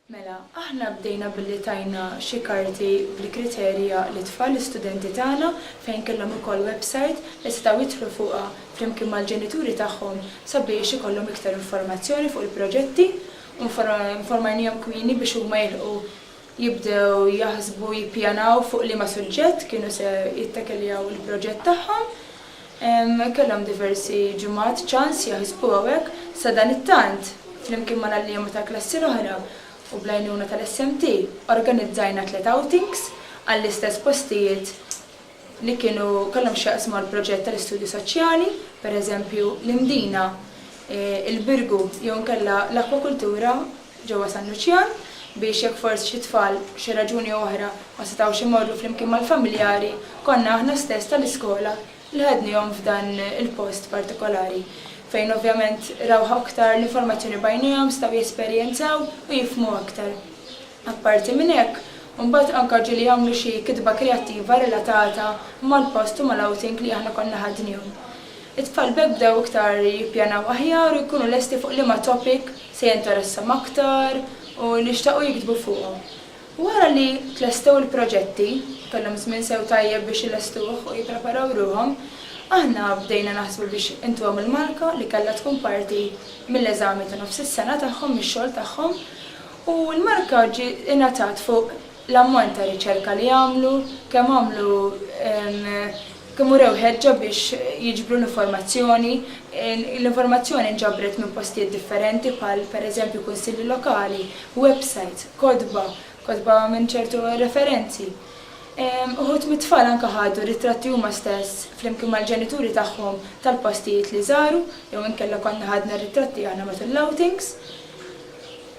Mela, aħna bdejna billi tajna xi karti bil-kriterji għal it-tfal, l-istudenti tagħna, fejn kellhom ukoll website li setgħu jidħlu fuqha flimkien mal-ġenituri tagħhom sabiex ikollhom iktar informazzjoni fuq il-proġetti u informajnihom kmieni biex huma jilħqu jibdew jaħsbu, jippjanaw fuq liema suġġett kienu se jittakiljaw il-proġett tagħhom. Kellhom diversi ġimgħat ċans jaħsbu hawnhekk. Sadanittant, flimkien mal-għalliema tal-klassi l-oħra u bl-għajnuna tal-SMT, organizzajna tliet outings għall-istess postijiet li kienu kellhom x'jaqsmu mal-proġett tal-Istudju Soċjali, pereżempju, l-Imdina, il-Birgu jew inkella l-Akwakultura. ġewwa San Luċjan biex jekk forsi xi tfal b'xi raġuni oħra ma setgħux imorru flimkien mal-familjari, konna aħna stess tal-iskola li ħadnihom f'dan il-post partikolari fejn ovvjament rawh aktar l-informazzjoni b'għajnejhom, setgħu jesperjenzaw u jifhmu aktar. Apparti minn hekk, imbagħad anke ġieli jagħmlu xi kitba kreattiva relatata mal-post u mal-outing li aħna konna ħadnihom. It-tfal b'hekk bdew iktar jippjanaw aħjar u jkunu lesti fuq liema topic, se jinteressahom aktar u nixtaqu jiktbu fuqhom. Wara li tlestew il-proġetti, kellhom żmien sew tajjeb biex ilestuh u jippreparaw ruħhom, aħna bdejna naħsbu biex intuhom il-marka li kellha tkun parti mill-eżami ta' nofs is-sena tagħhom mix-xogħol tagħhom u l-marka ġiet ingħatat fuq l-ammont ta' riċerka li għamlu, kemm għamlu, kemm urew ħeġġa biex jiġbru l-informazzjoni, l-informazzjoni nġabret minn postijiet differenti bħal, per eżempju, kunsilli lokali, websajts, kotba, kotba minn ċertu referenzi. Uħud mit-tfal anke ħadu ritratti huma stess, flimkien mal-ġenituri tagħhom, tal-postijiet li żaru, jew inkella konna ħadna ritratti aħna matul l-outings.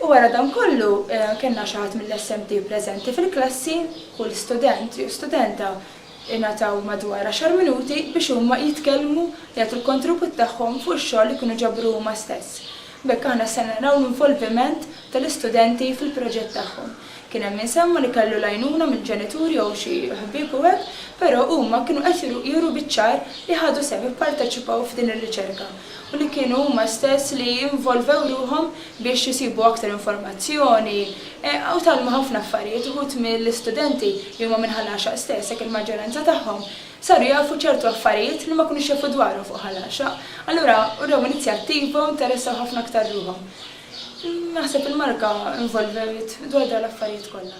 U wara dan kollu kellna xi ħadd mill-SMT preżenti fil-klassi, kull student jew studenta ngħataw madwar għaxar minuti biex huma jitkellmu, jagħtu l-kontribut tagħhom fuq ix-xogħol li kienu ġabru huma stess. B'hekk aħna stajna naraw l-involviment tal-istudenti fil-proġett tagħhom. Kien hemm min semma li kellu l-għajnuna mill-ġenituri jew xi ħbieb u hekk, però huma kienu qed juru biċ-ċar li ħadu sehem, ipparteċipaw f'din ir-riċerka u li kienu huma stess li involvew ruħhom biex isibu aktar informazzjoni u tgħallmu ħafna affarijiet. Uħud mill-istudenti li huma minn Ħal Għaxaq stess, jekk il-maġġoranza tagħhom, saru jafu ċertu affarijiet li ma kinux jafu dwarhom fuq Ħal Għaxaq. Allura wrew inizjattiva u interessaw ħafna aktar ruħhom. Naħseb il-marka involvewt dwar dawn l-affarijiet kollha.